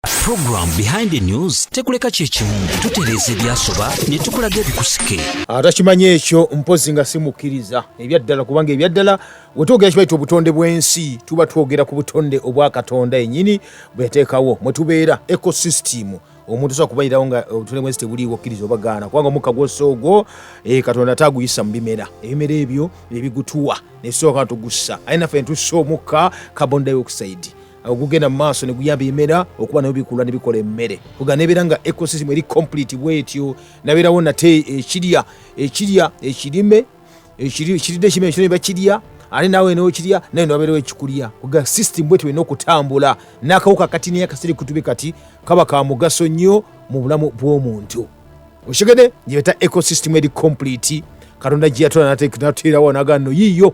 Program behind the news tekuleka kyekimu tutereeza ebyasoba ne tukulaga ebikusike atakimanyi ah, ekyo mpozi nga simukkiriza ebyaddala kubanga ebyaddala wetwogera kibaita obutonde bw'ensi tuba twogera ku butonde obwa katonda enyini bweyateekawo mwe tubeera ecosystem omuntu sobola kubalirawo nga obutonde bwensi tebuliiwo okkiriza obagaana kubanga omukka gwossa ogwo eh, katonda ate aguyisa mu bimera ebimera ebyo ebigutuwa netusooka tugussa aye naffe netussa omukka carbon dioxide ogugenda mu maaso neguyamba emera okuba nayo bikula nebikola emmere kuga nebeera nga ecosystem eri complete bwetyo nabeerawo nate ekirya ekirya ekirime ekiridde ekirime ekyo nebakirya ate nawe nokirya naye nobeerawo ekikulya kuga system bwetyo olina okutambula nakawuka kati naye akasiri kutube kati kaba ka mugaso nnyo mu bulamu bw'omuntu okitegede gyebeta ecosystem eri complete katonda gyeyatula nateerawo naga no yiiyo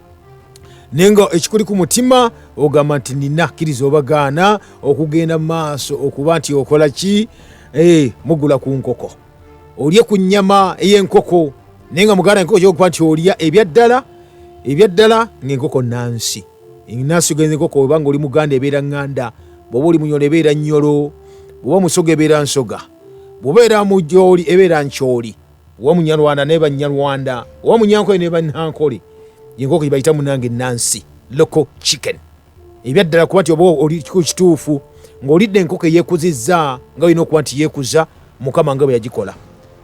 naye nga ekikuli ku mutima ogamba nti nina kkiriza obagaana okugenda mu maaso okuba nti okola ki eh, mugula ku nkoko olye ku nnyama ey'enkoko naye nga muganda enkoko kyokuba nti olya ebyaddala ebyaddala ngaenkoko nansi enansi ogenza enkoko obanga oli muganda ebeera ŋŋanda bwoba oli munyolo ebeera nnyolo bwoba musoga ebeera nsoga bwobeera mujooli ebeera nkyoli wa munyarwanda ne banyarwanda wa munyankole ne banyankole yenkoko gyebayita munange nansi local chicken ebyaddala kuba nti oba oli kituufu ng'olidde enkoko eyekuzizza nga olina okuba nti yeekuza mukama nga bwe yagikola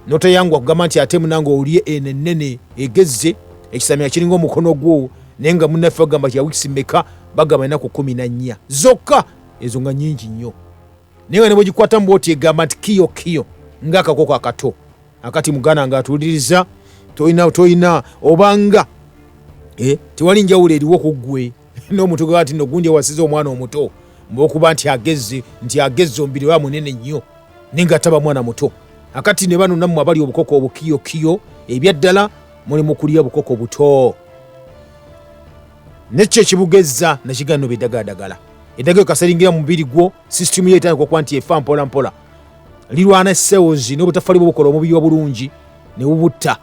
notayangwa kugamba nti ate munange olye eno ennene egezze ekisamira kiringa omukono gwo naye nga munaffe bagamba ti yawikisi meka bagamba enaku kumi na nnya zokka ezo nga nyingi nnyo naye nga ne bwegikwatamu bwoti egamba nti kiyo kiyo nga akakoko akato akati muganda nga atuwuliriza tolina tolina obanga eh, tewali njawulo eriwo ku ggwe n'omuntu gwe ati nogundi ewasiza omwana omuto mbaokuba nti agezze nti agezze omubiri wa munene nnyo naye nga taba mwana muto akati ne bano nammwe abali obukoko obukiyokiyo ebyaddala muli mu kulya bukoko buto nekyo ekibugezza nakigaa noba edagaladagala edaga ekaseringira mu mubiri gwo sisitimu yo etandika okuba nti efa mpola mpola lirwana cells n'obutafali bwobukola omubiri obulungi ne bubutta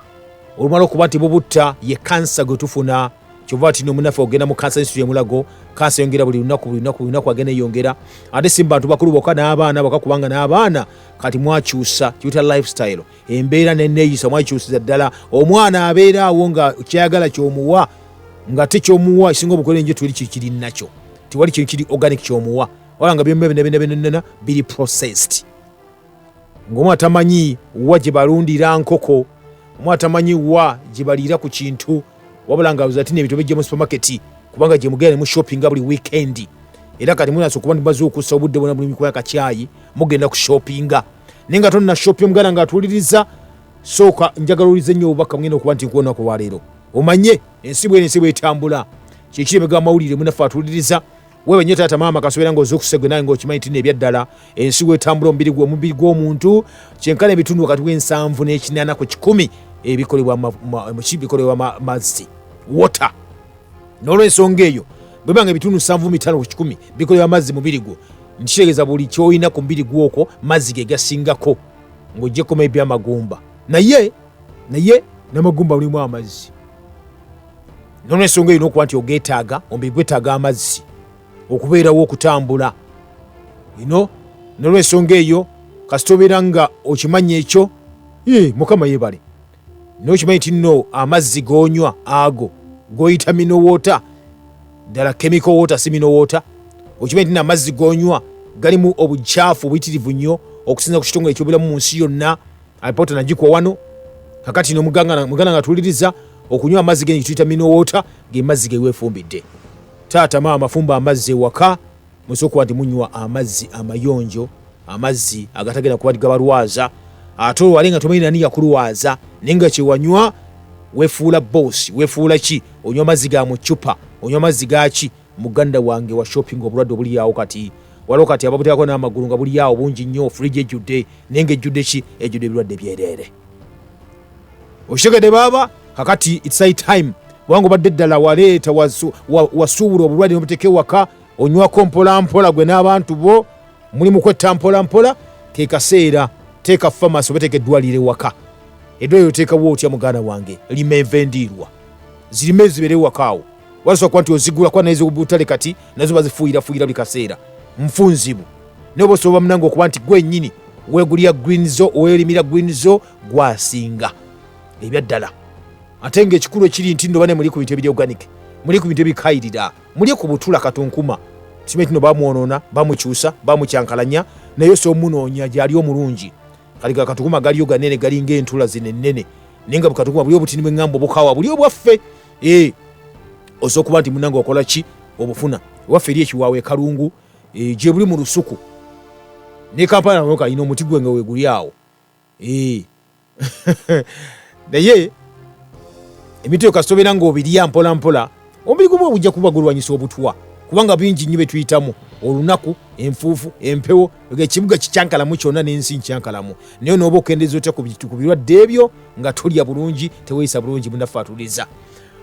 olumala okuba nti bubutta ye kansa gwe tufuna kyova tino omunafe ogenda mu kansa ensitu yemulago kansa eyongera buli lunaku buli lunaku buli lunaku agenda eyongera ate si mu bantu bakulu boka n'abaana boka kubanga n'abaana kati mwakyusa kiyuta lifestyle embeera neneeyisa mwakikyusiza ddala omwana abeera awo nga kyayagala kyomuwa nga te kyomuwa esinga obukole njo tuli kikiri nakyo tewali kintu kiri organic kyomuwa wala nga byomubinabinabinana biri processed ngaomu atamanyi wa gye balundira nkoko omu atamanyi wa gye baliira ku kintu wabula nga ati nebintu bijja mu supermarket kubanga gyemugenda nemu shoppinga buli weekend era kati munaso kuba ndimaze okussa obudde bona buli mikuba yakakyayi mugenda ku shoppinga naye nga tonna shopping omuganda nga atuwuliriza sooka njagala owulize nnyo obubaka mugenda okuba nti nkuwonaku olwaleero omanye ensi bwene ensi bwetambula kyekiri ebigambo mawulire munafe atuwuliriza wewe nyo taata maama kasubira nga ozukuse gwe nawe ngaokimanyi tino ebyaddala ensi wetambula omubiri gwe omubiri gw'omuntu kyenkana ebitundu wakati w'ensanvu n'ekinana ku kikumi ebikolebwa mazzi water n'olwensonga eyo bweba nga ebitundu nsanvu mitano ku kikumi bikolebwa mazzi mubiri gwo nkitegeeza buli kyolina ku mubiri gwokwo mazzi ge gasingako ng'ojjekoma ebyamagumba naye naye namagumba lulimu amazzi nolwensonga erina okuba nti ogetaaga omubiri gwetaaga amazzi okubeerawo okutambula ino nolwensonga eyo kasita obeera nga okimanya ekyo mukama yebale nokimanyi nti no amazzi gonywa ago goyita minowoota ddala kemiko woota si minowoota okimanyi nti namazzi gonywa galimu obukyafu obuyitirivu nnyo okusinza ku kitongole ekyobulamu mu nsi yonna alipota nagikwa wano kakati no muganga mugana nga tuliriza okunywa amazzi genyi tuyita mino water ge mazzi ge wefumbidde taata maama fumba amazzi ewaka musokuwa nti munywa amazzi amayonjo amazzi agatagenda kuba gabalwaza ate olwale nga tomanyi nani yakulwaza naye nga kyewanywa wefuula bosi wefuula ki onywa amazzi ga mucupa onywa amazzi gaki Muganda wange wa shopping obulwadde obuli awo kati waliwo kati ababuteekako n'amagulu nga buli awo bungi nnyo fridge ejjudde naye nga ejjudde ki ejjudde ebirwadde byereere okitegedde baaba kakati it's high time kubanga obadde ddala waleeta wasu- wa- wasuubula obulwadde nobuteeka ewaka onywako mpolampola gwe n'abantu bo muli mu kwetta mpolampola ke kaseera teeka famasi oba teeka eddwaliro ewaka eddwaliro oteekawo otya muganda wange lima enva endiirwa zirime zibeere ewaka awo wasobola kuba nti ozigula kuba nezobutale kati nazo bazifuuyirafuuyira buli kaseera nfunzibu naye oba osobola munange okuba nti gwenyini wegulira green zo owerimira green zo gwasinga ebyaddala ate nga ekikulu ekiri nti nobane muli ku bintu ebiri organic muli ku bintu ebikayirira muli ku butula katunkuma simanyi tino bamwonona bamukyusa bamukyankalanya naye osobola omunoonya gyali omulungi kali gakatukuma galiyo ganene galinga entula zino ennene naye nga bukatunkuma buli obutini bweŋŋamba obukawa buli obwaffe eh, oza okuba nti munange wakola ki obufuna waffe eri ekiwaawo ekalungu eh, gye buli mu lusuku ne kampala naoka alina omuti gwe nga weguli awo eh. naye emitwe yo kasita obeera ngaobirya mpola mpola omubiri gumu obujja kuba gulwanyisa obutwa kubanga bingi nnyo bye tuyitamu olunaku enfuufu empewo ekibuga kikyankalamu kyonna n'ensi nkyankalamu naye nooba okendeza otya ku birwadde ebyo nga tolya bulungi teweyisa bulungi munaffe atuliza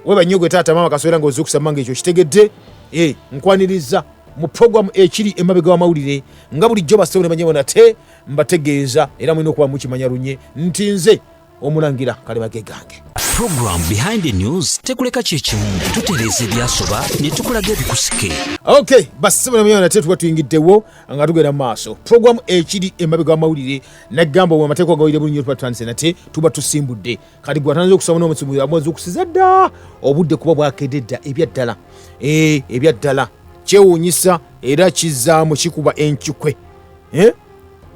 weba nnyo gwe taata maama kaswera nga ozuukusama nga ekyo kitegedde eh, nkwaniriza mu programu ekiri emabega wamawulire nga bulijjo basewo ne banyabo nate mbategeeza era mulina okuba mukimanya lunye nti nze omulangira kaliba ge gange program behind the news tekuleka kyekimu tutereeza ebyasoba ne tukulaga ebikusike ok basibonamyonate tuba tuyingiddewo nga tugenda mu maaso program ekiri emabega wamawulire nagamba amateeka ogawulire bulunyo tuba tutandise nate tuba tusimbudde kati gwatanza okusaba nomusimu amwezi okusiza dda obudde kuba bwakedde dda ebyaddala eh, ebyaddala kyewuunyisa era kizaamu kikuba enkikwe eh?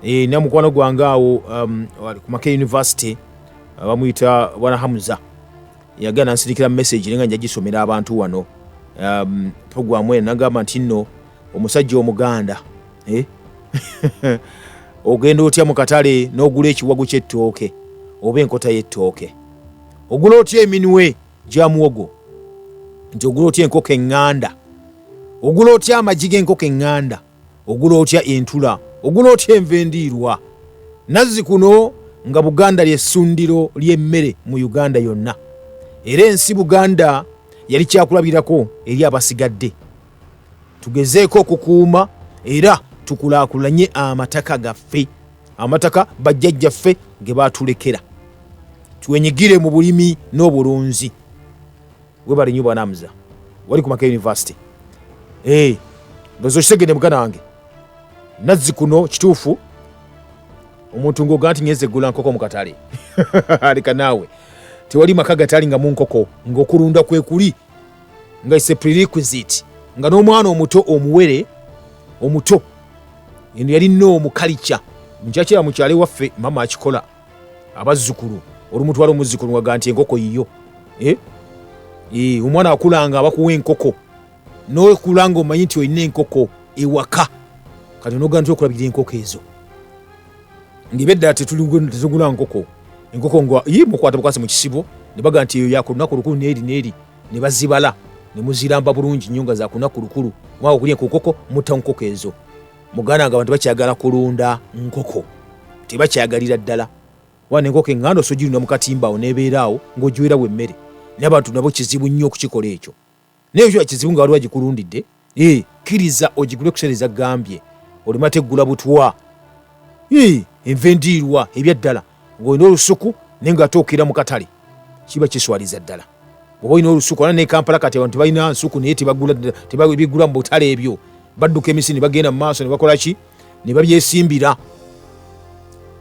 e, na mukwano gwange awo um, ku maka university uh, bamuyita bwana hamuza yagana nsirikira message nenga njagisomera abantu wano um, programu eno nagamba nti nno omusajja omuganda eh? ogenda otya mu katale n'ogula ekiwago ky'ettooke oba enkota y'ettooke ogula otya eminwe gya muwogo nti ogula otya enkoko eŋŋanda ogula otya amagi g'enkoko eŋŋanda Ogula otya entula? Ogula otya enva endiirwa? Nazzikuno nga Buganda lye ssundiro ly'emmere mu Uganda yonna era ensi Buganda yali kyakulabirako eri abasigadde. Tugezeeko okukuuma era tukulaakulanye amataka gaffe, amataka bajjajjaffe ge baatulekera. Twenyigire mu bulimi n'obulunzi. Webale nyo bwana Hamza. Wali ku Makerere University. Eh. Hey, ndozo kisegede mugana wange. Nazzi kuno kituufu. Omuntu ngoga nti nyeze gula nkoko mu katale. Alika nawe. Tewali maka gatali nga mu nkoko ngokulunda kwe kuli. Nga is a prerequisite. Nga n'omwana omuto omuwere omuto eno yali noomu kalica njakira mukyale waffe mama akikola abazzukulu olumutwala omuzzukulu ngaga nti enkoko yiyo eh? eh, omwana akulanga abakuwa enkoko nokulanga omanyi nti olina enkoko ewaka kati noga nti okulabira enkoko ezo ngebedda tetugula nkoko enkoko nga yi mukwata bukwasi mukisibo nebaga nti eyo yakunaku lukulu neri neri nebazibala nemuziramba bulungi nyo nga zakunaku lukulu mwaka okulya enkokoko mutta nkoko ezo muganda nga abantu bakyagala kulunda nkoko tebakyagalira ddala wana enkoko eŋŋanda osojirunda mu katimbaawo nebeeraawo ng'ogiwerawo emmere naye abantu nabo kizibu nnyo okukikola ekyo naye ekyo kizibu nga waliwo agikulundidde ee kkiriza ogigule kuseereza gambye olimate eggula butwa enva endiirwa ebyaddala ng'olina olusuku naye nga ate okira mu katale kiba kiswaliza ddala oba olina olusuku ana nekampala kati abantu tebalina nsuku naye tebagula mu butale ebyo badduka emisi ne bagenda mu maaso ne bakola ki ne babyesimbira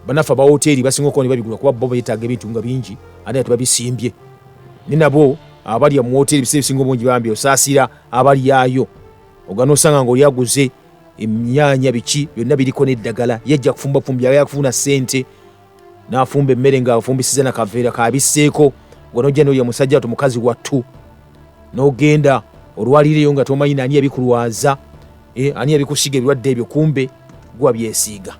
banaffe abawoteeri basinga okuba ne babigula kuba bo betaaga ebintu nga bingi ate nga tebabisimbye ne nabo abalya mu woteeri biseera ebisinga obungi bambi osaasira abalyayo ogana osanga ngaoli aguze emyanya biki byonna biriko n'eddagala yajja kufumba fumbi aba yakufuna ssente n'afumba emmere ng'afumbisiza na kaveera kabisseeko nga nojja noyo musajja watu mukazi wattu n'ogenda olwalireyo nga tomanyi naani yabikulwaza eh, ani yabikusiga ebirwadde ebyo kumbe gwa byesiiga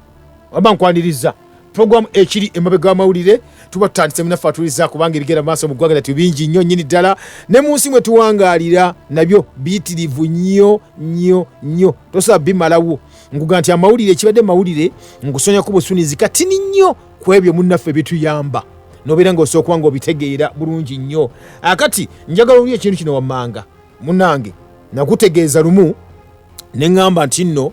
waba nkwaniriza program ekiri emabe ga mawulire tuba tutandise munafe atuliza kubanga ebigenda maaso mu ggwanga lyattu bingi nnyo nnyini ddala ne mu nsi mwe tuwangaalira nabyo biyitirivu nnyo nnyo nnyo tosobola bimalawo nguga nti amawulire ekibadde mawulire ngusonyako busunizi katini nnyo ku ebyo munnaffe bituyamba nobeera nga osobola kuba nga obitegeera bulungi nnyo akati njagala oli ekintu kino wammanga munange nakutegeeza lumu ne ŋŋamba nti nno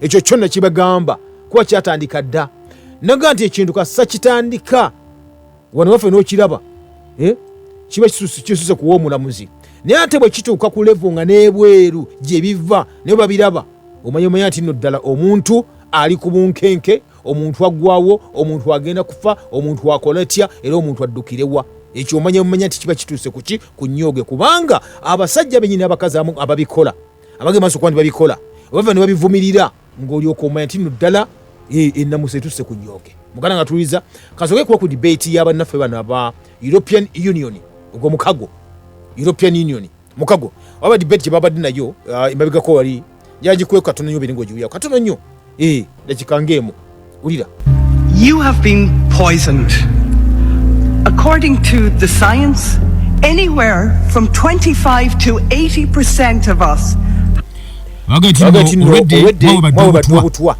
ekyo kyo nakibagamba kuba kyatandika dda naga nti ekintu kasa kitandika wano waffe nokiraba eh? kiba kisuse kuwa omulamuzi naye ate bwe kituuka ku levo nga n'ebweru gye biva naye babiraba omanya omanya nti nno ddala omuntu ali ku bunkenke omuntu aggwawo omuntu agenda kufa omuntu akola tya era omuntu addukirewa ekyo omanya omanya nti kiba kituuse kuki ku nnyooge kubanga abasajja benyini abakazi amu ababikola abage maso kwandi babikola obava ne babivumirira ng'olyoka omanya nti no ddala eh, ennamusa etusse ku nyooke muganda nga tuliza kasoke kuba ku debate ya bannaffe bano aba european union ogwo mukago european union mukago oba debate gye babadde nayo uh, emabegako wali yagikweka katono nyo beringa ogiwuyako katono nnyo eh dakika ngemu ulira you have been poisoned according to the science anywhere from 25 to 80% of us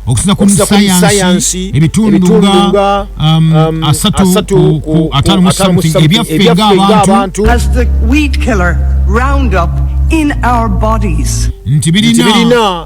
okusinzakumusayansi ebitundunga um, um, asatu ku atano musamuti ebyaffe ngaabantu nti birina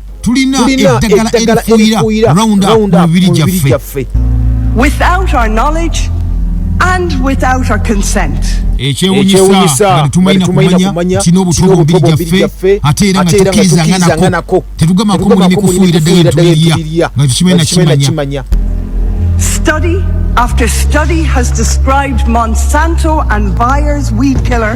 tulina eddagala erifuuyira round up mu mibiri gyaffe without our knowledge and without our consent ekyewunyisa nga tetumalina kumanya kina obutobo bubiri gyaffe ate era nga tukirizanga nako tetugamako mulimi kufuuyira ddagala erituliriya nga tekimanyi nakimanya Study after study has described Monsanto and Bayer's weed killer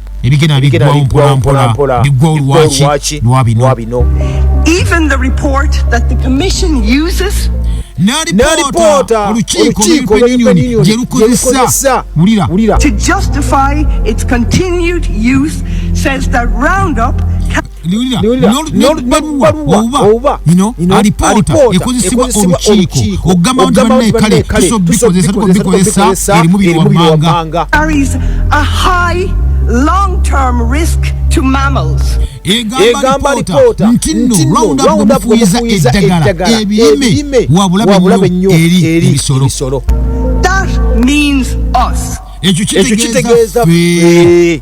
ebigenda biggwawo mpolampola biggwawo lwaki lwa bino even the report that the commission uses nalipoota olukiiko european union gye lukozesa wulira to justify its continued use says that roundup liwulira nebaluwa oba alipoota ekozesebwa olukiiko okugamba nti banne kale tusobbikozesa tuko bikozesa eri mubiri wammanga egamba alipoota nti nno lwawunda kufuyiza eddagala ebirime wabulabe nnyo eri ebisolo ekyo kitegeeza ffe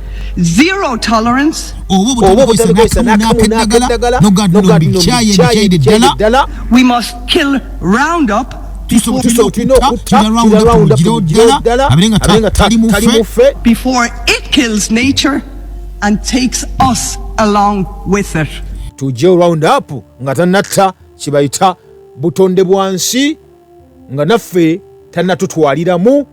zero tolerance we must kill round up before it kills nature and takes us along with it tujje round up nga tanatta kibayita butonde bwansi nga naffe tanatutwaliramu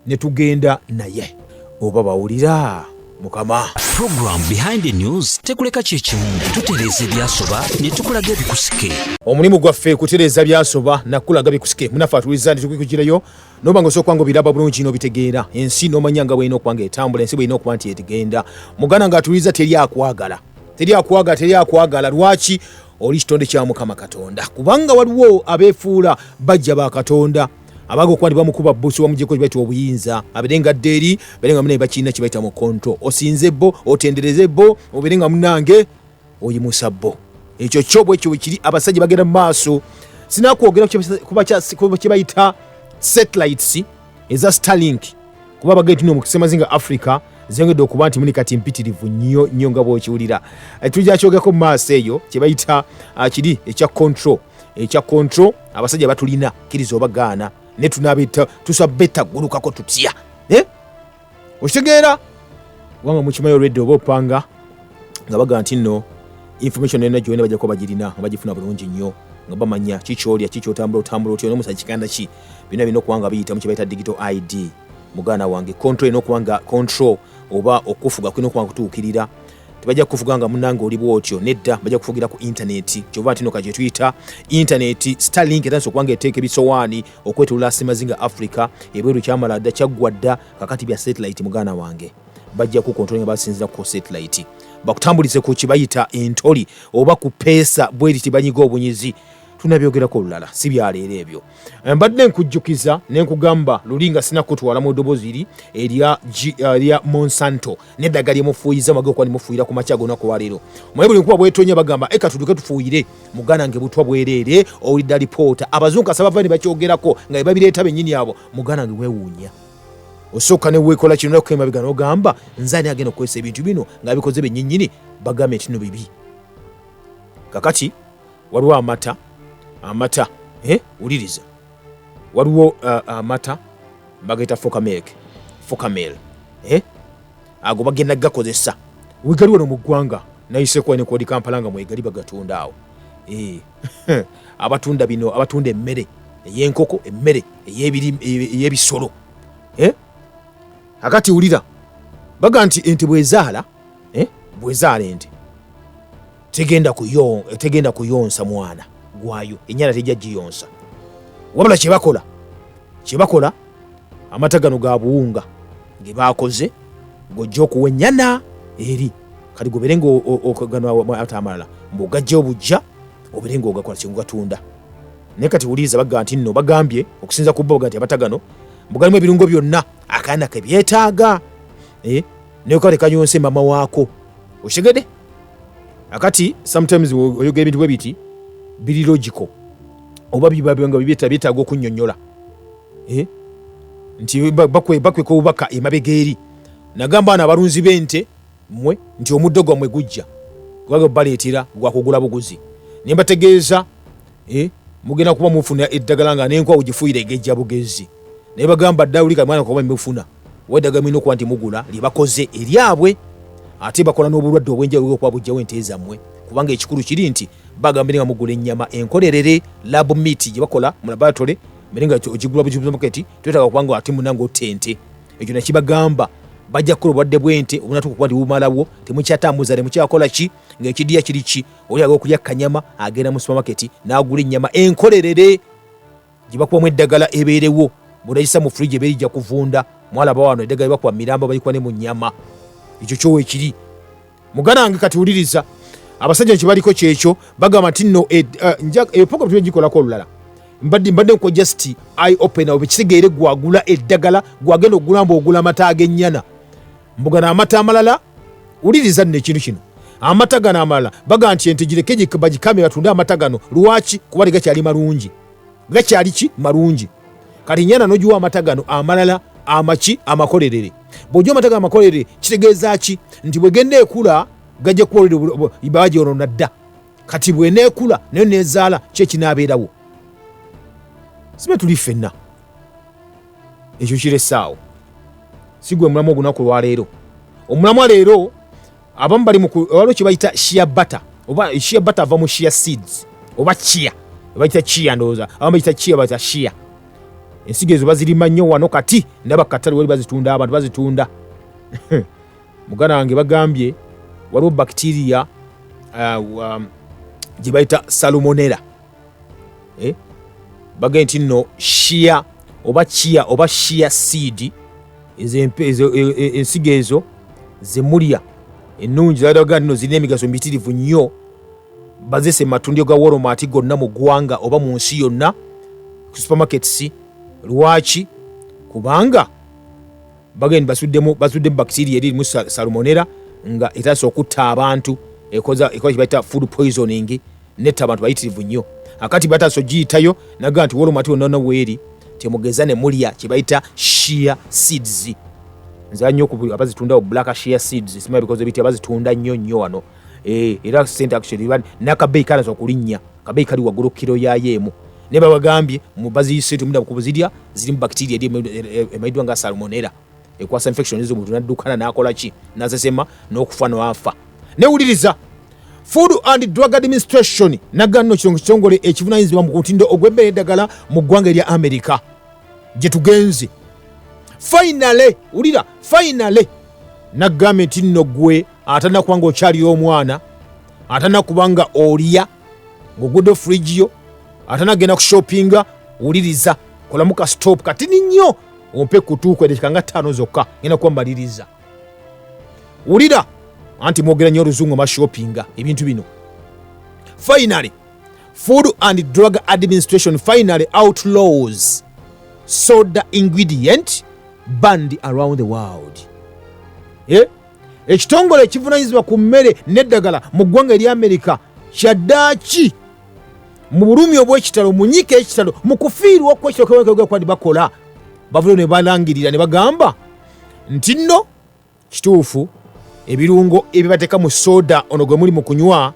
ne tugenda naye oba bawulira mukama program behind the news tekuleka kyekimu tutereeza ebyasoba ne tukulaga ebikusike omulimu gwaffe kutereeza byasoba nakulaga bikusike munafe atuliza nti tukikugireyo noba nga osokwanga obiraba bulungi nobitegeera ensi nomanya nga bwalina okubanga etambula ensi bwalina okuba nti etigenda muganda nga atuliza teri akwagala teri akwagala teri akwagala lwaki oli kitonde kya mukama katonda kubanga waliwo abefuula bajja ba katonda abaga okuba ndibamukuba busi wamujeko kibaita obuyinza abere nga deri bere nga munaye bakirina kibaita mu control osinze bo otendereze bo obere nga munange oyimusa bo ekyo kyo bwekyo kiri abasajja bagenda mu maaso sinakwogera kuba kibayita satellites eza starlink kuba bagetino mukisemazinga africa zengedde okuba nti muni kati mpitirivu nnyo nnyo nga bwokiwulira eh, tujja kyogeko mu maaso eyo kyebayita ah, kiri ekya control ekya control abasajja batulina kiriza oba gaana ne tunabeta tusabeta gulukako tutya eh? okitegeera kubanga mukimayo olwedde oba opanga nga baga nti nno information ena gyona bajako bagirina nga bagifuna bulungi nnyo nga bamanya kikyolya kikyotambula otambula otya nomusa kiganda ki bina bina okubanga biyita mu kibaita digital id muganda wange control ena okubanga control oba okufuga kulina okubanga kutuukirira tebajja kukuvuga nga munange oli bwotyo nedda bajja kufugira ku intaneti kyova ntino ka kyetuyita intaneti starlink etandisa okubanga eteeka ebisowaani okwetulula semazinga africa ebweru kyamala dda kyaggwa dda kakati bya satellite muganda wange bajja kukontrola nga basinzira ku satellite bakutambulize ku kibayita entoli oba ku peesa bweri tibanyiga obunyizi tunabyogerako olulala si byaleero ebyo eh, mbadde nkujjukiza nenkugamba luli nga sinakutwala mu ddoboziri erya eh, monsanto neddagala lyemufuuyiza mwagala okuba nemufuuyira ku makya gona kuwaliro mwaye buli nkuba bwetonya bagamba eka eh, tuduke tufuuyire muganda nge butwa bwereere owulidda lipoota abazungu kasa bava ne bakyogerako nga bebabireeta bennyini abo muganda nge wewuunya osooka newekola kino naku emabega nogamba nze ani agenda okukozesa ebintu bino nga bikoze benyinyini bagambe nti no bibi kakati waliwo amata amata eh, wuliriza waliwo uh, amata uh, bagayita fokamilk fokamil eh? ago bagenda gakozesa wegali wano mu ggwanga nayiseekuba nekodi kampala nga mwegali bagatunda awo eh. abatunda bino abatunda emmere eyenkoko emmere eyebisolo eh? akati wulira baga nti ente bwezaala eh? bwezaala ente tegenda kuyo tegenda kuyonsa mwana gwayo enyana tejja giyonsa wabula kyebakola kyebakola amata gano ga buwunga ge bakoze ng'ojja okuwa ennyana eri kati gobere ngaata amalala mbu ogajja obujja obere ngaogakola kyegugatunda naye kati wuliriza baga nti nno bagambye okusinza ku boga nti amata gano mbu galimu ebirungo byonna akaana kebyetaaga eh, naye kale kanyonse mama waako okitegede akati sometimes oyogera ebintu bwe biti biri logical oba biba nga byetaaga okunyonyola eh? nti bakweka obubaka emabega eri nagamba na abalunzi b'ente mwe nti omuddo gwammwe gujja kubaga baleetera gwakugula buguzi ne mbategeeza eh, mugenda kuba mufuna eddagala nga nenkwawo gifuire egejja bugezi naye bagamba dawulika mwana kuba mufuna wedaga mulina okuba nti mugula lyebakoze eryabwe ate bakola n'obulwadde obwenjawulo okuba bujjawo ente zammwe kubanga ekikulu kiri nti bagamba nga mugula ennyama enkolerere lab meat gye bakola mu laboratory mbere nga ogigula bugibuzamaketi twetaga okuba nga ate munanga otta ente ekyo nakibagamba bajja kukola obulwadde bw'ente obunatuuka okuba nti bumalawo temukyatambuza temukyakola ki ng'ekidiya kiri ki oli aga okulya kanyama agenda mu supamaketi n'agula ennyama enkolerere gye bakubamu eddagala ebeerewo bwonagisa mu fridge ebeeri ja kuvunda mwalaba wano eddagala bakuba miramba balikuba ne mu nnyama ekyo kyowa ekiri muganda wange kati wuliriza abasajja nkibaliko kyekyo bagamba nti no eh, eh, eyo program tulina gikolako olulala mbadde mbadde nko just i open awo bekitegeere gwagula eddagala gwagenda okugulamba ogula amata ag'ennyana mbu gano amata amalala wuliriza nno ekintu kino amata gano amalala baga nti ente gireke bagikame batunde amata gano lwaki kuba tegakyali malungi gakyali ki malungi kati nyana nogiwa amata gano amalala amaki amakolerere bwojja amata gano amakolerere kitegeeza ki nti bwegenda ekula gajja kubaobagyonona dda kati bweneekula nayo nezaala kyekinaabeerawo sibe tuli ffenna ekyo kiresaawo si gwe mulamu ogunaku lwaleero omulamwa leero abamu bali waliwo kyebayita shia butter oba shia butter ava mu shia seeds oba chia bayita chia ndowooza abamu bayita chia bayita shia ensigo ezo bazirima nnyo wano kati ndaba katale wali bazitunda abantu bazitunda muganda wange bagambye waliwo bakitiriya uh, um, gye bayita salomonera eh? bagee nti nno shia oba chia oba shia seed e, e, ensigo ezo zemulya ennungi zadaga nno zirina emigaso mitirivu nnyo bazese matundiro ga wolomaati gonna mu ggwanga oba mu nsi yonna ku supermarkets lwaki kubanga bagenda basuddemu basuddemu bakitiria eririmu salumonera nga etasa okutta abantu ekoza ekola kibaita food poisoning netta abantu bayitirivu nnyo akati batasa ogiyitayo naga nti wolomati onoona weeri temugeza ne mulya kye bayita shia seeds nzira nnyo ku abazitundawo black shia seeds simanya bikoze bitya bazitunda nnyo nnyo wano eh, era sente actually nakabeeyi kalaza okulinnya kabeeyi kali waggulu kiro yayo emu naye babagambye mubaziyise temudda kukubuzirya zirimu bakitiria eri emaiddwa nga salmonera ekwasa infection ezo omuntu naddukana nakola ki nasesema n'okufa noafa newuliriza food and drug administration naganno kirongo kitongole ekivunanyizibwa mu kutindo ogw'ebbeera eddagala mu ggwanga erya amerika gye tugenze fainale wulira fainale nagamba nti nno gwe atana kuba nga okyalira omwana atana kuba nga olya ng'ogudde furigiyo atana kugenda ku shoppinga wuliriza kolamu ka stop katini nnyo ompe kutuuka edakika nga ttaano zokka ngenda kuba mbaliriza wulira anti mwogera nnyo oluzungu mashopinga ebintu bino finally food and drug administration finally outlaws soda ingredient band around the world eh? ekitongole ekivunanyizibwa ku mmere n'eddagala mu ggwanga erya amerika kyaddaaki mu bulumi obwekitalo munyika ekitalo mu kufiirwa okwekitalokwadi bakola bavule ne balangirira ne bagamba nti nno kituufu ebirungo ebibateeka mu soda ono gwe muli mu kunywa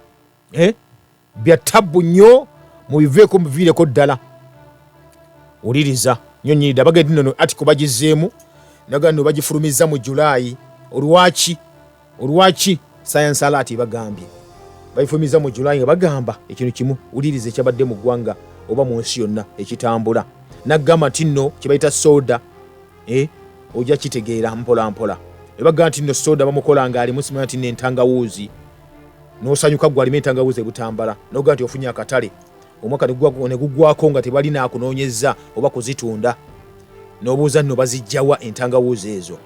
eh, bya tabbu nnyo mubiveeko mubiviireko ddala wuliriza nyo nyirida bagedinono atiko bagizeemu naga no bagifulumiza mu julaayi olwaki olwaki sayansi alaati ebagambye babifumiza mu julayi nga bagamba ekintu kimu wuliriza ekyabadde mu ggwanga oba mu nsi yonna ekitambula nagamba nti nno kyebayita soda eh, ojja kitegeera mpolampola ebagamba nti nno soda bamukola nga alimu simanya nti nentangawuuzi nosanyuka gwe alimu entangawuuzi ebutambala nogamba nti ofunye akatale omwaka ne gugwako nga tebali naakunoonyezza oba kuzitunda n'obuuza nno bazijjawa entangawuuzi ezo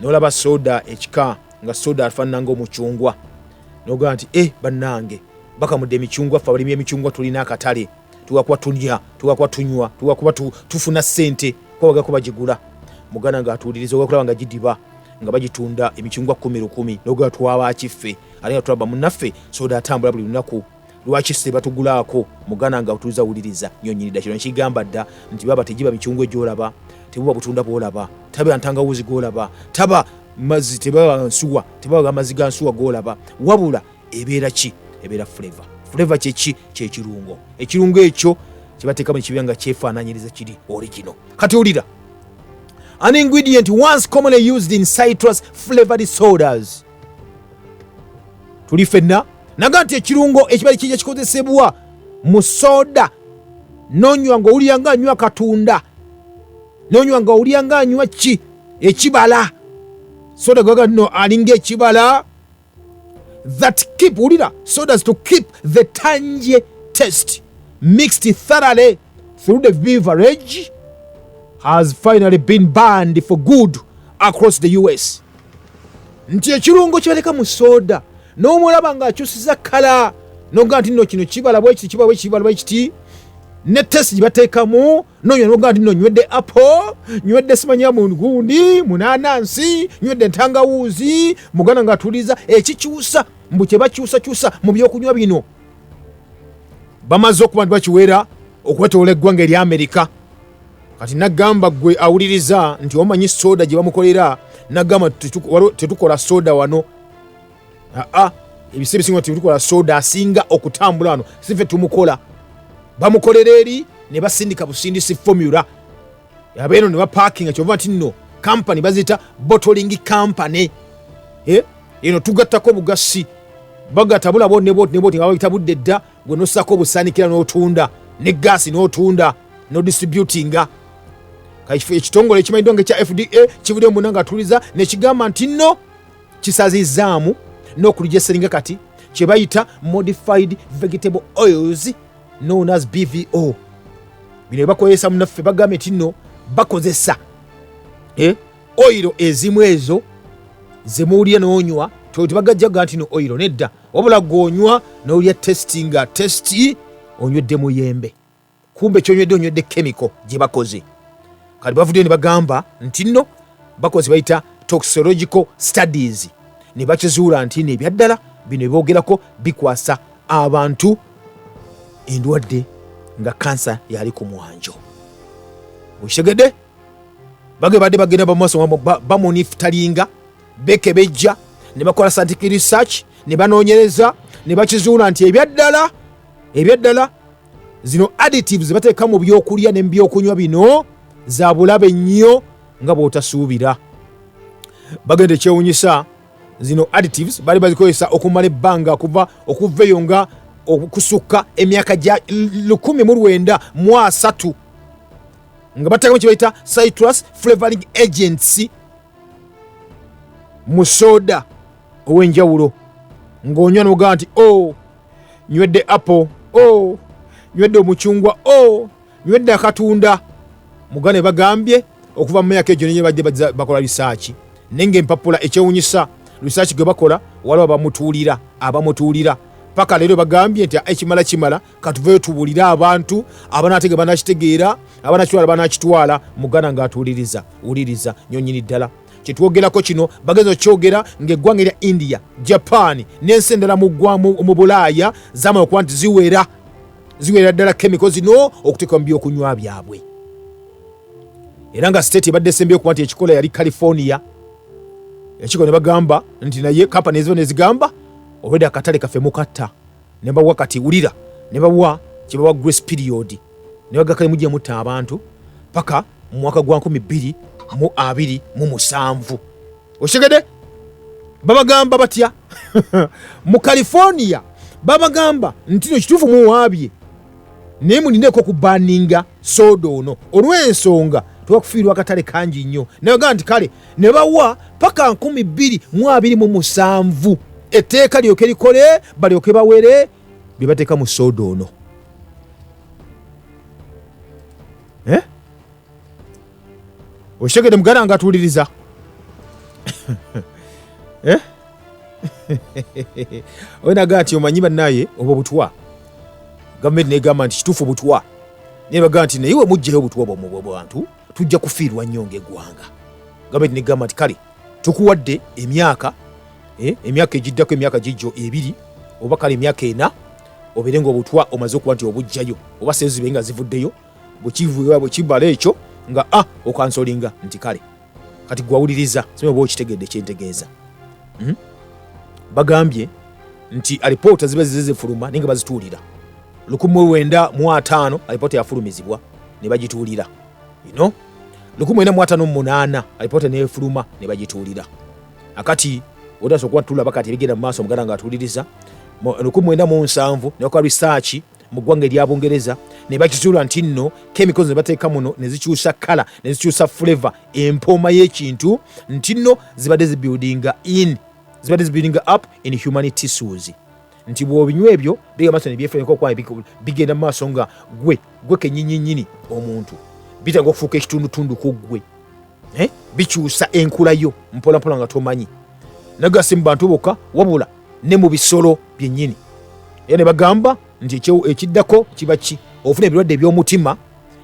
n'olaba soda ekika nga soda afaanana nga omucungwa nogaa nti e bannange bakamudde emicungwa ffe abalimi emicungwa tulina akatale tugakuba tulya tugakuba tunywa tugakuba tufuna ssente kubagako bagigula muganda ngaatuuliriza ogakulaba nga gidiba nga bagitunda emicungwa kumi lukumi nogaa twabakiffe ate nga tulaba munnaffe soda atambula buli lunaku lwaki se batugulaako mugana nga otuuza wuliriza nyo nyini dakiro nkigamba dda nti baba tegiba mikyungwe gyolaba tebuba butunda bwolaba taba ntangawuzi gwolaba taba mazzi tebaba nsuwa tebaba amazzi ga nsuwa gwolaba wabula ebeera ki ebeera flavor flavor kyeki kyekirungo ekirungo ekyo kyebateekamu ekibeera nga kyefaananyiriza kiri origino kati olira an ingredient once commonly used in citrus flavored sodas tuli fenna naga nti ekirungo ekibali kijja kikozesebwa mu soda nonywa nga owulira nga anywa katunda nonywa nga owulira nga anywa ki ekibala soda gaga no alinga ekibala that keep wulira sodas to keep the tanje test mixed thoroughly through the beverage has finally been banned for good across the us nti ekirungo kibaleka mu soda n'omulaba ng'akyusiza kala noga nti no kino kibala bwekiti kibala bwekibala bwekiti ne test gibateekamu nonya noga nti no nywedde apple nywedde simanya mugundi munanansi nywedde entangawuuzi muganda ng'atuliza ekikyusa mbu kyebakyusakyusa mu byokunywa bino bamaze okuba nti bakiwera okwetoola eggwanga erya amerika kati nagamba gwe awuliriza nti omanyi soda gye bamukolera nagamba tetukola soda wano aa ebisa ebisinga tetukola soda asinga okutambula wano sife tumukola bamukolera eri ne basindika busindisi formula abeeno ne bapakinga kyova nti nno kampani baziyita botoling kampany eh? eno tugattako obugasi bagata bulabo nebotneboti nga bayita budde dda gwe nosako obusaanikira n'otunda ne gaasi n'otunda nodistributinga ekitongole ekimanyiddwa nga ekya fda kivudde muna nga atuliza nekigamba nti nno kisazizaamu n'okulijeseringa kati kye bayita modified vegetable oils known as bvo bino bakozesa munaffe bagambye nti no bakozesa eh, oyiro ezimu ezo zemuwulira nonywa tebagajjaga nti no oyiro nedda wabula gwonywa nowulira testi nga testi onywedde muyembe kumbe kyonywedde onywedde kemiko gyebakoze kati bavuddeyo nebagamba nti no bakoze bayita toxological studies nebakizuula nti no ebyaddala bino ebyogerako bikwasa abantu endwadde nga kansa yali ku mwanjo okitegedde bage badde bagenda bamaaso bamunifutalinga bekebejja ne bakola scientific research ne banoonyereza ne bakizuula nti ebyaddala ebyaddala zino additives bateeka mu byokulya ne mubyokunywa bino za bulabe nnyo nga bw'otasuubira bagenda ekyewunyisa zino additives bali bazikozesa okumala ebbanga kuva okuva eyo nga okusukka emyaka gya 19 mu asatu nga batekamu kyebayita citrus flavoring agents mu soda ow'enjawulo ng'onywa nogaa nti o oh, nywedde apple o oh, nywedde omucungwa o oh, Bibadde akatunda mugano ebagambye okuva mu myaka egyo nenye badde bakola risaaki naye ngaempapula ekyewunyisa risaaki gwe bakola waliwo abamutuulira abamutuulira paka leero bagambye nti ekimala kimala katuveyo tubulire abantu abanatege banakitegeera abanakitwala banakitwala mugana ngaatuuliriza wuliriza nyonyini ddala kyetwogerako kino bageza okyogera ngaeggwanga erya india japan n'ensi endala mu bulaaya zamala okuba nti ziwera ziwerera ddala kemiko zino okuteekwa mu byokunywa byabwe era nga state ebadde esembi okuba nti ekikola yali california ekiko ne bagamba nti naye kampani eziba nezigamba obwedde akatale kaffe mukatta ne bawa kati wulira ne bawa kyebawa grace period ne bagakale mujja mutta abantu paka mu mwaka gwa 2 mu 2 mu musanvu okitegede babagamba batya mu california babagamba nti no kituufu muwaabye naye mulindeeko okubaninga sooda ono olw'ensonga tewakufiirwa akatale kangi nnyo nayogamba nti kale ne bawa paka 227 etteeka lyoke likole balyoke bawere bye bateeka mu sooda ono eh? okitegede muganda nga atuwuliriza eh? onaga ati omanyi banaye obwo butwa gavumenti negamba nti kituufu butwa naye bagamba nti naye wemugjayo obutwa bwamwe bwabantu tujja kufiirwa nnyo ngaeggwanga gavumenti negamba nti kale tukuwadde emyaka eh, emyaka egiddako emyaka gijjo ebiri oba kale emyaka ena obeere nga obutwa omaze okuba nti obugjayo oba sezibe nga zivuddeyo bwekivuba bwekibala ekyo nga a ah, okansolinga nti kale kati gwawuliriza sima oba okitegedde kyentegeeza hmm? bagambye nti alipoota ziba zize zifuluma naye nga bazituulira lukumi wenda mu ataano alipoota yafulumizibwa ne bagituulira ino lukumi wenda mu ataano munaana alipoota nefuluma ne bagituulira akati otasobola kuba tulaba kati ebigenda mu maaso muganda nga atuuliriza lukumi wenda mu nsanvu newakola risaaki mu ggwanga erya bungereza ne bakizuula nti nno chemicals ne bateeka muno ne zikyusa kala ne zikyusa flavor empooma y'ekintu nti nno zibadde zibuildinga in zibadde zibuildinga up in human tissues nti bwobinywa ebyo bigamba nti nebyefuneko kwaye bigenda mu maaso nga gwe gwe kenyinyinyini omuntu bitanga okufuuka ekitundutundu ku ggwe eh? bikyusa enkula yo mpolampola nga tomanyi naga si mu bantu bokka wabula ne mu bisolo byennyini era ne bagamba nti ekiddako kiba ki ofuna ebirwadde eby'omutima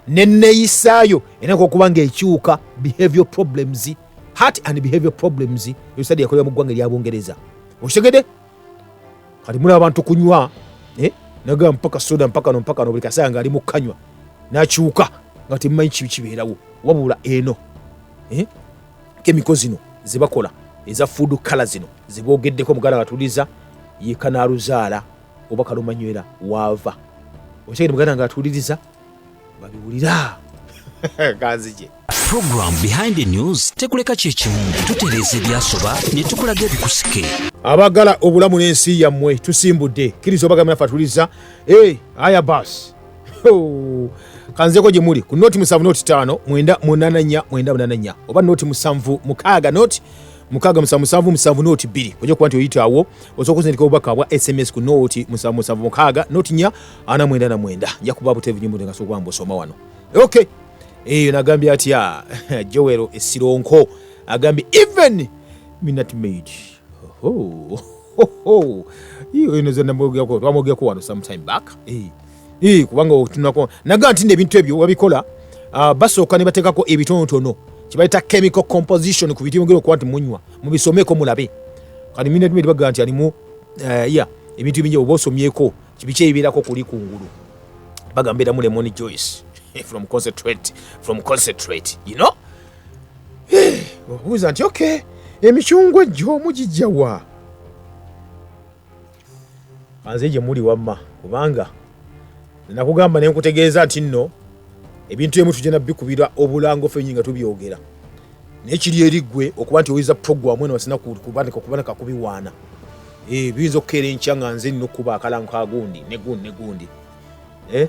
neneyisaayo enaka okuba nga ekyuka behavior problems heart and behavior problems usaid yakolera mu ggwanga erya bungereza okitegede kati mulaba abantu kunywa eh? nagamba mpaka soda mpaka no mpaka no buli kaseera nga ali mu kanywa nakyuka nga temumanyi kibi kibeerawo wabula eno eh? kemiko zino zebakola eza fuudu kala zino zeboogeddeko muganda ngatuliza yekanaluzaala oba kalumanywera waava okyagenda muganda nga atuuliriza babiwulira kanzije program behind the news tekuleka kyekimu tutereeza ebyasoba ne tukulaga ebikusike abagala obulamu n'ensi yammwe tusimbudde kkiriza obagamira fatuliza e aya bas kanzeko gye muli ku noti musanvu noti taano mwenda munananya mwenda munananya oba noti musanvu mukaaga noti mukaaga musanvu musanvu musanvu nooti bbiri ojja kuba nti oyitaawo osobola okuzindika obubaka bwa sms ku nooti musanvu musanvu mukaaga nooti nya ana mwenda na mwenda nja kuba buteevu nyimbo nga sokuba mbusoma wano okay eyo nagambye atya jowero esironko agambye even minat maid enozenamwogerako twamwogerako wano sometime back eh, eh, kubanga otunako naga nti nebintu ebyo wabikola ah, basooka ne bateekako ebitonotono kyebayita chemical composition ku bitimugera okuba nti munywa mubisomeko mulabe kati minat maid bagaa nti alimu eh, ya ebintu ebingi oba osomyeko biki ebibeerako kuli ku ngulu bagamba eramu lemon joyce from concentrate from concentrate you know eh, obuuza nti okay emicungwa ejjo mugijja wa anze gye muli wamma kubanga nakugamba ne nkutegeeza nti nno ebintu emu tugenda bikubira obulango fenyi nga tubyogera naye kiri eriggwe okuba nti oyinza puroguramu eno wasina kubaneka kubiwaana Eh, biyinza okukeera enkya nga nze nina okukuba akalango ka gundi ne gundi ne gundi eh?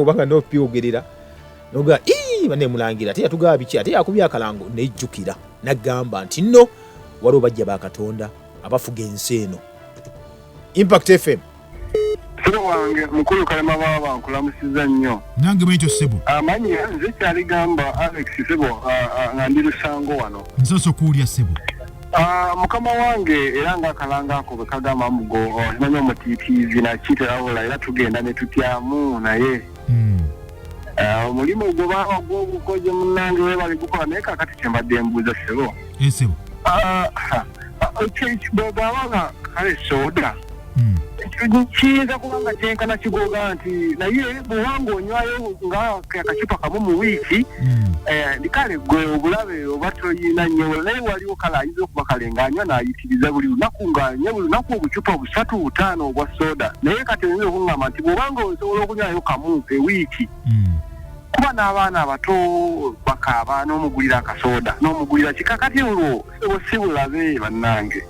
oba nga nopyogerera noga banemulangira ate yatugaba biki ate yakubya akalango nejjukira nagamba nti no waliwo bajja bakatonda abafuga ensi eno impact fm Sebo wange mukulu kalema baba nkulamusiza nnyo. Nange bwekyo sebo. Amanyi ah, nze kyali gamba Alex sebo ah, ah, nga ndi lusango wano. Nsoso kuulya sebo. Uh, mukama wange era nga akalanga ako bwe kagamba mugo omanyi oh, omutiitiizi nakiiterawola era tugenda ne tutyamu naye hmm. uh, omulimu mm. uh, gwobanga gwobukoje munange webali gukola naye kakati kyembadde mbuuza sebo esebo eh, uh, uh, uh, bwebabanga kale soda hmm. kiyinza kuba nga kyenkana kigoga nti naye bwewanga onywayo nga akacupa kamu mu wiiki hmm. eh, kale gwe obulabe oba toyina nyo naye waliwo kale ayinza okuba kale ngaanywa nayitiriza buli lunaku ngaanywa buli lunaku obucupa busatu butaano obwa soda naye kati oyinza okuŋgamba nti bwewanga osobola okunywayo kamu ewiiki hmm. kuba n'abaana abato bakaaba n'omugulira akasoda n'omugulira kikakati olwo osibulabe bannange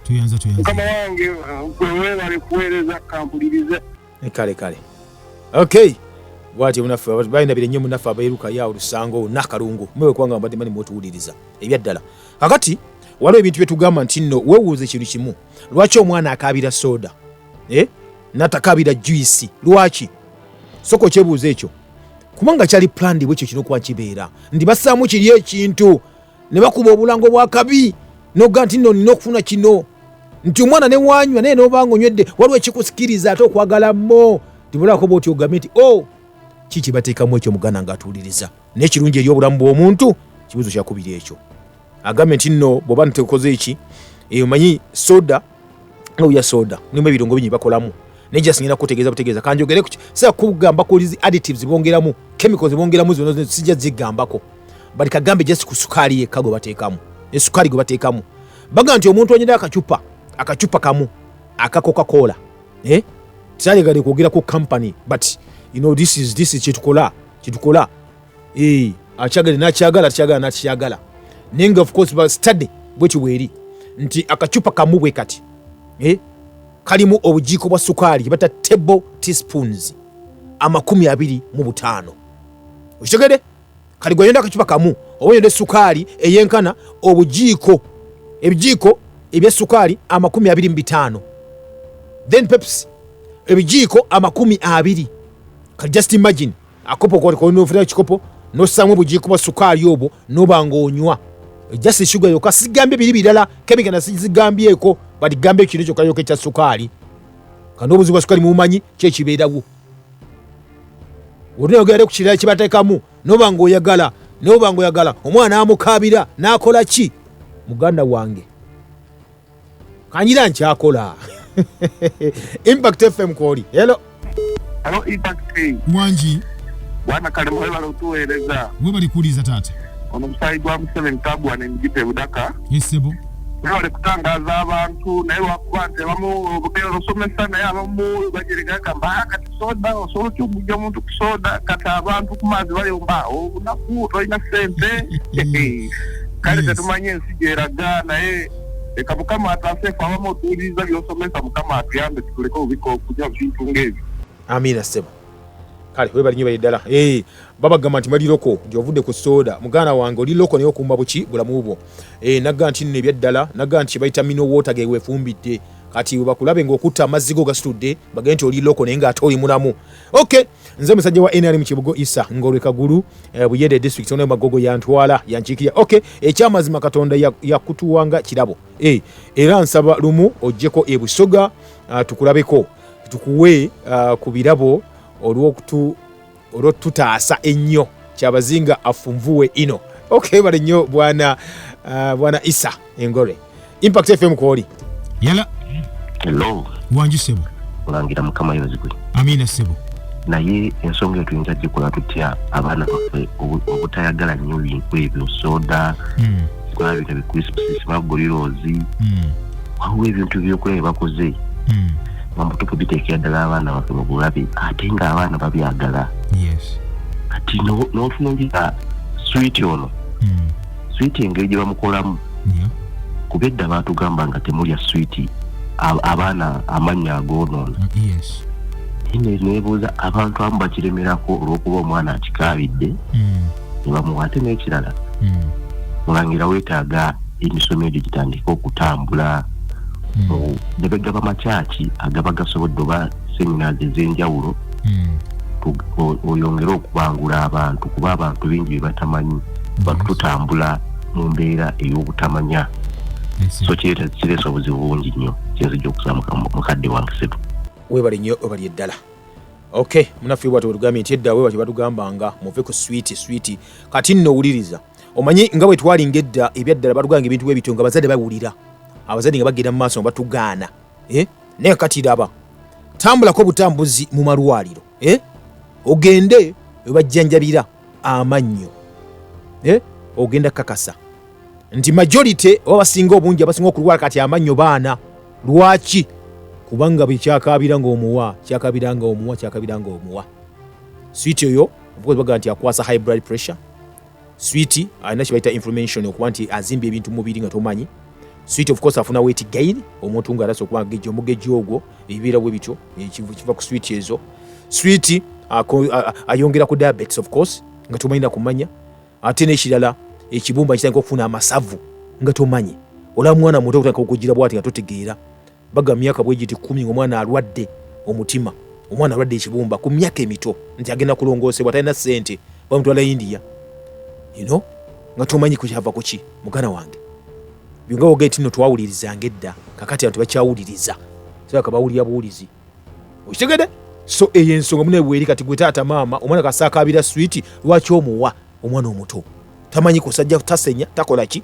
tuyanza tuyanza mukama wange gwe webale kuweereza kampulirize kale kale okay bwati munaffe bayinabire nnyo munaffe abeeruka ya olusango nakalungu mwewe kubanga mbadde mani mwotuwuliriza ebyaddala kakati waliwo ebintu byetugamba nti nno wewuuza ekintu kimu lwaki omwana akaabira soda eh? natakaabira juisi lwaki soka okyebuuza ekyo kubanga kyali plandi bwekyo kinokuba kibeera ndi basaamu kiri ekintu ne bakuba obulango bwa kabi noga nti no nina okufuna kino nti omwana ne wanywa naye nobanga onywedde waliwo ekikusikiriza ate okwagala mo tibulako bwoti ogambe nti o oh, ki kyebateekamu ekyo muganda nga atuwuliriza naye kirungi eri obulamu bw'omuntu kibuzo kyakubiri ekyo agambe nti no bwoba ntekoze eki eyo manyi soda nga uya soda nimba ebirungo bingi bakolamu naye just ngenda kutegeeza butegeeza kanjogere kuki sira kugamba kulizi additives bongeramu chemicals bongeramu zino zino sijja zigambako but kagambe just ku sukaali yekka gwe bateekamu ne sukaali gwe bateekamu bagamba nti omuntu anyira akacupa akacupa kamu aka coca-cola eh? tisalegade kwogera ku company but you know, this is, this is kyetukola kyetukola eh, akyagala nakyagala akyagala nakyagala naye nga ofcourse ba study bwekyo bweri nti akacupa kamu bwe kati eh, kalimu obujiiko bwa sukaali bata table teaspoons amakumi abiri mu butaano okitegede kati gweyonda akacupa kamu oba yonda esukaali eyenkana obujiiko ebijiiko ebyesukaali amakumi abiri mu bitaano then peps ebijiiko amakumi abiri kati just imagine akopo kolinofuna ekikopo nossaamu obugiiko bwa sukaali obwo noba nga onywa just esuga yoka sigambye biri birala kemikana sizigambyeko but gamba ekino kyoka yoka ekya sukaali kano obuzibu bwa sukaali mubumanyi kyekibeerawo olinayogerade ku kirala kibatekamu noba nga oyagala noba nga oyagala omwana amukabira nakola ki muganda wange kanyira nkyakola impact fm kwoli helo halo impact wangi bwana kalimu webale otuweereza webali kuwuliriza taata ono musaayi gwa museveni tagwa nemugita ebudaka esebo webale kutangaza abantu naye lwakuba nti abamu obugenda osomesa naye abamu bajeregagamba ah, kati soda osobola otya okugja omuntu ku soda kati abantu ku maazi bayomba obunaku oh, tolina sente kale tetumanye ensi gyeraga naye leka mukama ataase fe abamu otuwuliriza byosomesa mukama atuyambe tutuleke obubika okunywa bintu ngaebyo amiina sebo kale webali nyo bayeddala hey, eh, babagamba nti bali loko nti ovudde ku soda muganda wange oli loko naye okumba buki bulamu bwo hey, eh, nagga nti nno ebyaddala nagga nti kyebayita mino water gewefumbidde kati webakulabe ngaokutta amazzi go gasitudde bagende nti oli loko naye ngaate oli mulamu okay nze musajja wa nrm kibugo isa ngolwe kagulu eh, buyende district ono magogo yantwala yankiikirira ok ekyamazima katonda yakutuwanga kirabo eh, era nsaba lumu ojjeko ebusoga ah, tukulabeko tukuwe ah, ku birabo olwotutaasa ennyo kyabazinga afunvuwe ino ok bale nnyo bwana ah, bwana isa engore impact fm kwoli yala hello wanji sebo olangira mukama yozigwe amina sebo naye ensonga etuyinza gikola tutya abaana baffe obutayagala nnyo bintu ebyo soda hmm. kwabita bicrisps magoliroozi hmm. waliwo ebintu byokulaba byebakoze hmm. bamutupu biteekera ddala abaana baffe mu bulabe ate ng'abaana babyagala kati n'otunongira switi ono switi engeri gye bamukolamu kuba edda baatugamba nga temulya switi abaana amannya agoonoona ine mm, nebuuza abantu amu bakiremerako olwokuba omwana akikaabidde mm. nebamuwa ate n'ekirala mm. mulangira weetaaga emisomo egyo gitandike okutambula nebegaba makyaki agaba gasobodde oba seminars ez'enjawulo hmm. oyongere okubangula abantu kuba abantu bingi bebatamanyi bantu tutambula mu mbeera ey'obutamanya so kireesa obuzibu bungi nnyo kyenzija okusa mukadde wange setu webale nnyo webali eddala ok munaffe bwati wetugambye nti edda webati batugambanga muve ku switi switi kati nno owuliriza omanyi nga bwe twalinga edda ebyaddala batuganga ebintu bwebityo nga abazadde bawulira abazadde nga bagenda mu maaso nga batugaana eh? naye kati laba tambulako butambuzi mu malwaliro eh? ogende webajjanjabira amannyo eh? ogenda kakasa nti majority oba basinga obungi abasinga okulwala kati amannyo baana lwaki kubanga bwekyakabira nga omuwa kyakabira nga omuwa kyakabira nga omuwa switi oyo obukozi bagamba nti akwasa high blood pressure switi alina kibayita information okuba nti azimba ebintu mubiri nga tomanyi switi of course afuna weti gain omuntu nga arasa okuba geji omugeji ogwo ebibeera bwe bityo kiva ku switi ezo switi ayongera ku diabetes of course nga tomanyi nakumanya ate nekirala ekibumba kitandika okufuna amasavu nga tomanyi olaba mwana muto okutandika okugira bwati nga totegeera Baga myaka bwe giti kkumi ng'omwana alwadde omutima, omwana alwadde ekibumba ku myaka emito nti agenda kulongoosebwa, talina ssente bamutwala India you know, nga tomanyi kukyava ku ki mugana wange byonga wogere tino twawulirizanga edda kakati abantu bakyawuliriza saka bawulira buwulizi okitegede so eyo ensonga mune bweri kati gwe taata maama omwana kasaakaabira switi lwaki omuwa omwana omuto tamanyi kusajja tasenya takola ki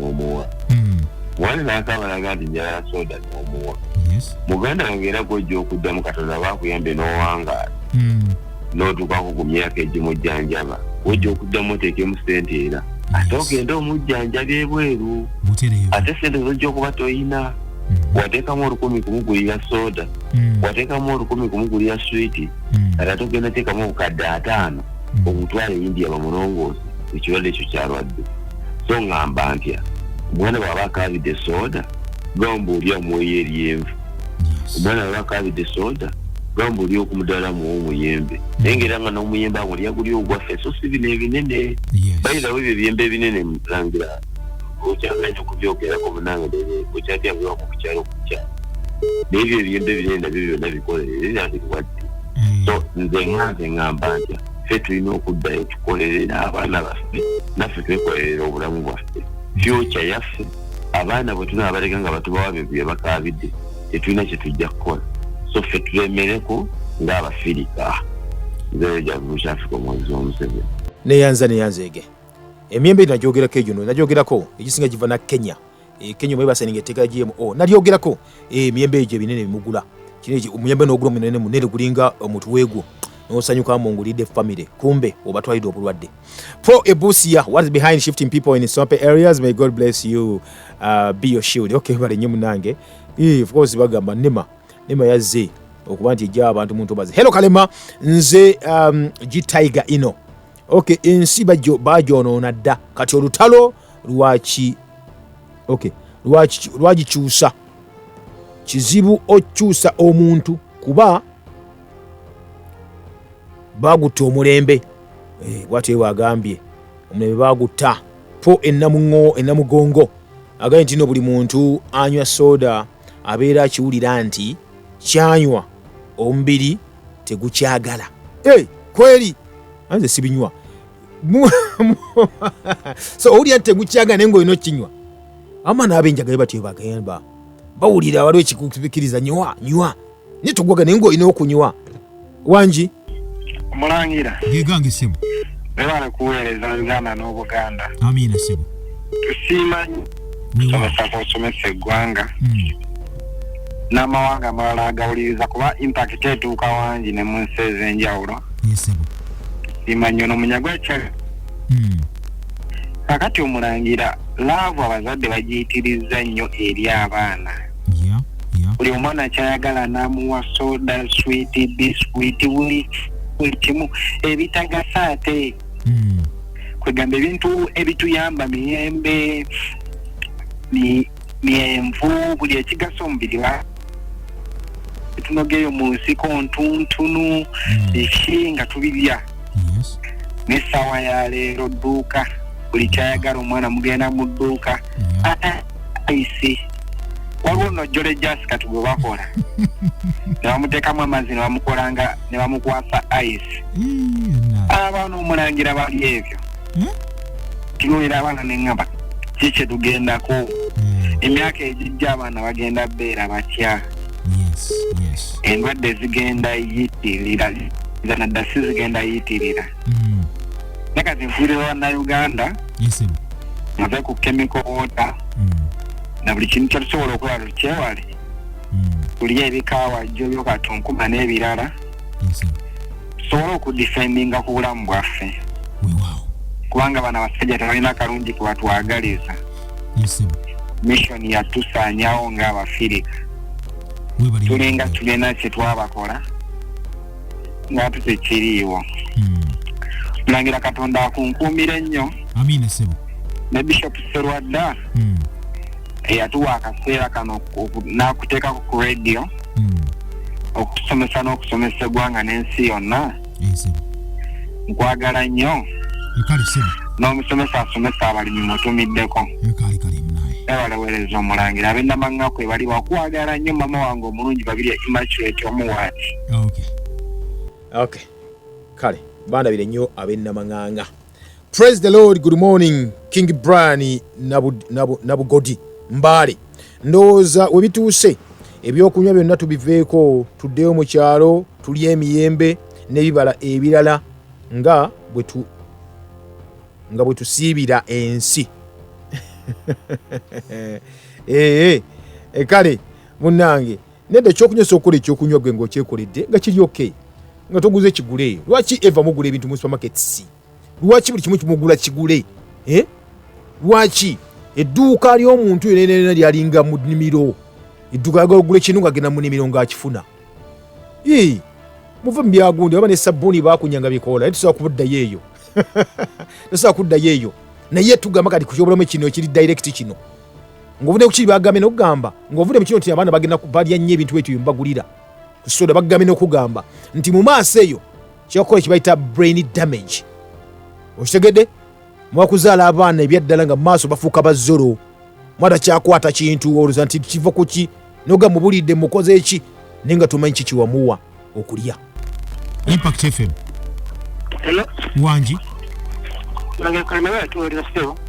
nomuwa hmm. wali nakaba naga nti njagala soda nomuwa muganda wange era gwojja okuddamu katonda bakuyambe nowangaala hmm. notukako ku myaka egimujjanjaba wojja okuddamu oteekemu sente era ate ogende omujjanjabi ebweru ate sente zojja okuba toyina Mm-hmm. watekamu olukumi kumugulira soda mm-hmm. watekamu olukumi kumugulira switi mm-hmm. kati ate ogenda tekamu obukadde ataano okutwala eyindi yaba mulongoosi ekirwadde ekyo kyalwadde so ŋŋamba ntya omwana bw'aba akaabidde sooda gamba oli amwoyo eryenvu omwana bw'aba akaabidde sooda gamba oli okumudala muwa omuyembe naye ngaera nga n'omuyembe ago lyaguli ogwaffe so si bino ebinene bayirawo ebyo ebyembe ebinene mulangira okyaganya okubyogerako munange okyatyabiwako kukyalo kukya naye ebyo ebyembe ebinene nabyo byonna bikolerere nabirwadde mm. so nze nganze ŋŋamba ntya ffe tulina okuddayo tukolerere abaana baffe naffe twekolerera obulamu bwaffe fyuca yaffe abaana bwe tunaba baleka nga batubawa bintu bye bakaabidde tetulina kye tujja kukola so ffe tulemereko ng'abafirika nzeyo gyavumusha afika omwezi w'omuseveni neyanza neyanza ege emyembe nagyogerako egyo nagyogerako egisinga giva na kenya e Kenya mwe basaninga etteka GMO nalyogerako e miyembe egyo ebinene bimugula kino omuyembe n'ogula omunene munene gulinga omutwe gwo nosanyuka mu ngulidde family kumbe obatwalidde obulwadde for ebusia what is behind shifting people in sope areas may god bless you uh, be your shield okay bale nyo munange eh, of course bagamba nema nema yazze okuba nti ejja abantu muntu baze hello kalema nze um, g tiger ino okay ensi bajo bajo no nadda kati olutalo lwaki okay lwaki lwagikyusa kizibu okyusa omuntu kuba bagutta omulembe eh, bwati ewe agambye omulembe bagutta po enamugongo agambye ntino buli muntu anywa soda abeera akiwulira nti kyanywa omubiri tegukyagala hey, eh, kweri anze sibinywa so owulira nti tegukyaga naye ngaolina okinywa ama naabenjagayo batyo bagamba bawulira waliwo ekikukiriza nywa nywa naye togwaga naye ngaolina okunywa wangi mulangira gegange sebo webale kuweereza uganda n'obuganda amiina sebo tusiima nsabasaka osomesa eggwanga hmm. n'amawanga amalala agawuliriza kuba impakiti etuuka wangi ne mu nsi ez'enjawulo simanyi ono munyagwa kyali hmm. kakati omulangira laavu abazadde bagiyitirizza nnyo eri abaana buli omwana kyayagala n'amuwa soda switi biswiti buli buli kimu ebitagasa ate hmm. kwegamba ebintu ebituyamba miyembe myenvu buli ekigasa omubiri wa tunogeeyo mu nsiko ntuntunu hmm. eki nga tubirya n'essaawa ya leero dduuka buli kyayagala omwana mugenda mu dduuka aisi waliwo nojjole jasi kati gwe bakola nebamuteekamu amazzi nebamukolanga nebamukwasa ice abaana omulangira bali ebyo hmm? tunuulira abaana neŋŋamba ki kye tugendako hmm. emyaka egijja abaana bagenda beera batya endwadde zigenda yitirira zanadda si zigenda yitirira hmm. naye kati nfuulira bannauganda nave ku kemiko wota na buli kintu kyetusobola okulaba tukyewale kulya ebikawajjo byokatunkuba n'ebirala tusobole okudifendinga ku bulamu bwaffe kubanga bana basajja tebalina kalungi kubatwagaliza mission yatusanyawo nga abafirika tulinga tulina kyetwabakola nga tutekiriiwo hmm. mulangira katonda akunkuumire nnyo ne bishop serwadda hmm. eyatuwa akaseera kano n'akuteekako ku radio hmm. okusomesa n'okusomesa eggwanga n'ensi yonna nkwagala nnyo n'omusomesa asomesa abalimi mutumiddeko ebalawereza omulangira ab'enamaŋŋa kwe bali bakwagala nnyo mama wange omulungi babiri immaculate omuwaati kale bandabire nnyo ab'enamaŋŋanga Praise the Lord, good morning King Brian Nabugodi Mbale. Ndowooza we bituuse ebyokunywa byonna tubiveeko tuddeyo mu kyalo tulye emiyembe n'ebibala ebirala nga nga bwe tusiibira ensi ee eh, eh, eh, kale munnange Nende ekyokunywa sokola ekyokunywa gwe ng'okyekoledde nga kiri okay nga toguze ekigule eyo lwaki eva mugula ebintu mu supermarkets lwaki buli kimu kimugula kigule eh? lwaki edduuka ly'omuntu yonenena lyalinga mu nimiro edduuka yagala ogula ekintu ngagenda mu nimiro ng'akifuna muve mu byagundi oba ne sabbuuni bakunyanga bikoola naye tusobola kubuddayo eyo tusobola kuddayo eyo naye tugamba kati kukyobulamu kino ekiri direct kino ng'ovudde ku kiri bagambye n'okugamba ng'ovudde mu kino nti abaana bagenda balya nnyo ebintu ekyo byembagulira ku soda bagambye n'okugamba nti mu maaso eyo kyakukola kibayita brain damage okitegedde mwakuzaala abaana ebyaddala nga maaso bafuuka bazolo mwata kyakwata kintu oluza nti kiva kuki noga mubulidde mukoze eki naye nga tumanyi kikiwamuwa okulya impact fm Hello? wangi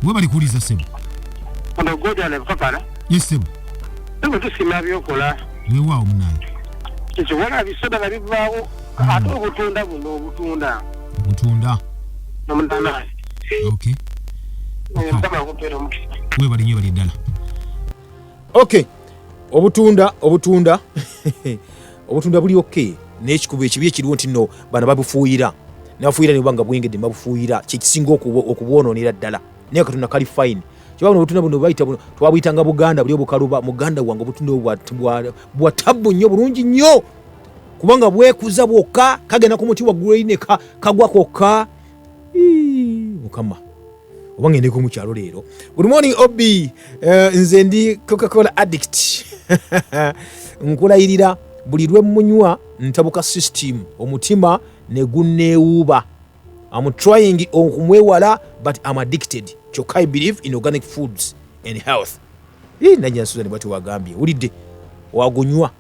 we bali kuwuliza ssebo ye ssebo tusiima byokola wewaawo munange ekyo wala bisadala bivaawo hmm. ate obutunda buno obutunda obutunda nomutanaa okay webali nyo bali ddala okay obutunda obutunda obutunda buli okay n'ekikuba ekibi ekiriwo nti no bano babufuuyira nabafuuyira ne bubanga bwengedde babufuuyira kyekisinga okubwonoonera ddala naye katonda kali fine kyoba buno obutunda buno bayita buno twabuyitanga buganda buli obukaluba muganda wange obutunda bwa tabbu nnyo bulungi nnyo kubanga bwekuza bwokka kagenda ku muti waggulu ine kagwa kokka mukama oba ngendeko mu kyalo leero good morning ob eh, nze ndi coca-cola addict nkulayirira buli lwe munywa ntabuka system omutima ne gunneewuuba am trying okumwewala but am addicted kyokka i believe in organic foods and health nanyansuza ne bwati wagambye wulidde wagunywa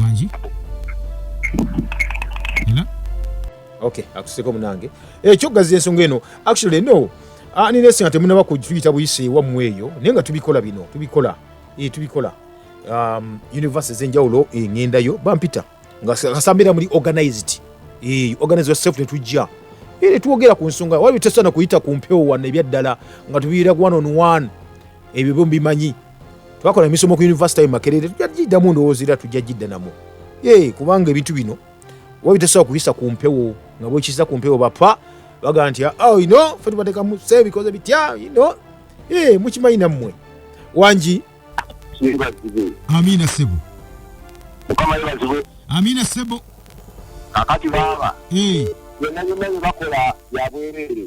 wangi ela okay akuseko munange ekyo eh, gazi ensonga eno actually no ani ah, nesi nga temunaba kutuyita buyise ewammwe eyo naye nga tubikola bino tubikola e, tubikola um, univesity ezenjawulo engendayo bampita nga kasambira muli organized e, organized yourself netujja era twogera ku nsonga wali tesana kuyita ku mpewo wano ebyaddala nga tubiira one on one ebyo byo mbimanyi twakola emisomo ku yunivasite yo makerere tujja giddamu ndowooza era tujja giddanamu ye kubanga ebintu bino oba bitasobola kubisa ku mpewo nga bwekiza ku mpewo bapa bagamba nti ah, oh, ino fe tubatekamu se bikoze bitya ino ye mukimanyi nammwe wangi amina sebo amina sebo kakati baaba yonna yonna yebakola yabwereere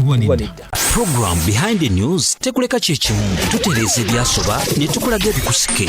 oba nedda Program Behind the News tekuleka kyekimu tutereeza ebyasoba ne tukulaga ebikusike